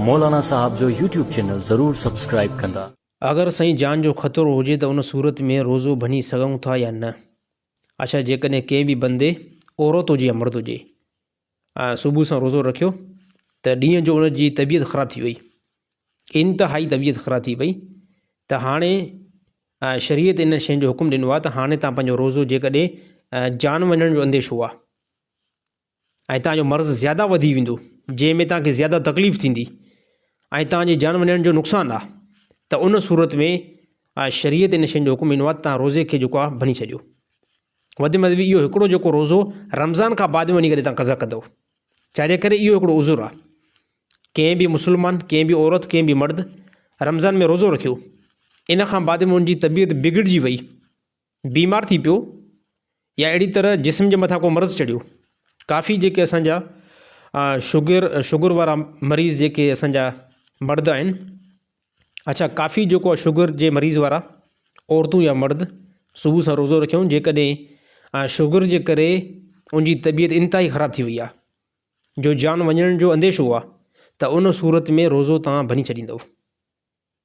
مولانا صاحب جو YouTube channel ضرور سبسڪرائيب ڪندا. اگر سائين جان جو خطرو هجي ته ان صورت ۾ روزو ڀڃي سگهون ٿا يا نه اڇا جيڪڏهن ڪنهن به بندي عورت هجي يا مرد هجي ۽ صبح سان روزو رکيو ته ڏينهن جو ان جي طبيعت خراب ٿي وئي انتهائي طبيعت خراب ٿي پئي ته هاڻي شريعت انهن شين جو حڪم ڏنو آهي ته هاڻي تان پنهنجو روزو جيڪڏهن جان وڃڻ جو انديشو آهي ۽ توهان جو مرض زياده وڌي ويندو جنهن ۾ توهان کي زياده تڪليف ٿيندي ۽ توهان جي جان وڃڻ جو نقصان آ ته ان صورت ۾ آ شريعت ان شين جو حڪم ڏنو آ ته توهان روزي کي جيڪو آ ڀڃي ڇڏيو وڌ ۾ وڌ اهو هڪڙو جيڪو روزو رمضان کان بعد ۾ وڃي ڪري توهان قضا ڪندو ڇا جي ڪري اهو هڪڙو عذر آ ڪنهن به مسلمان ڪنهن به عورت ڪنهن به مرد رمضان ۾ روزو رکيو ان کان بعد ۾ ان جي طبيعت بگڙجي وئي بيمار ٿي پيو يا اهڙي طرح جسم جي مٿان ڪو مرض چڙهيو ڪافي جيڪي اسانجا شگر شگر وارا مريض جيڪي اسانجا مرد آهن اڇا ڪافي جيڪو آهي شگر جي مريض وارا عورتون يا مرد صبح سان روزو رکيون جيڪڏهن شگر جي ڪري انجي طبيعت انتهائي خراب ٿي وئي آهي جو جان وڃڻ جو انديشو آهي ته ان صورت ۾ روزو تان ڀڃي ڇڏيندؤ.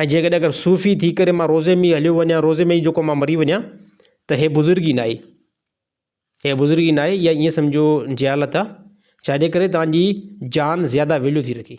۽ جيڪڏهن اگر صوفي ٿي ڪري مان روزي ۾ هليو وڃان روزي ۾ جيڪو مان مري وڃان ته هي بزرگي نه آهي هي بزرگي نه آهي ائين سمجهو جهالت آهي ڇاجي ڪري تانجي جان زياده ويليو ٿي رکي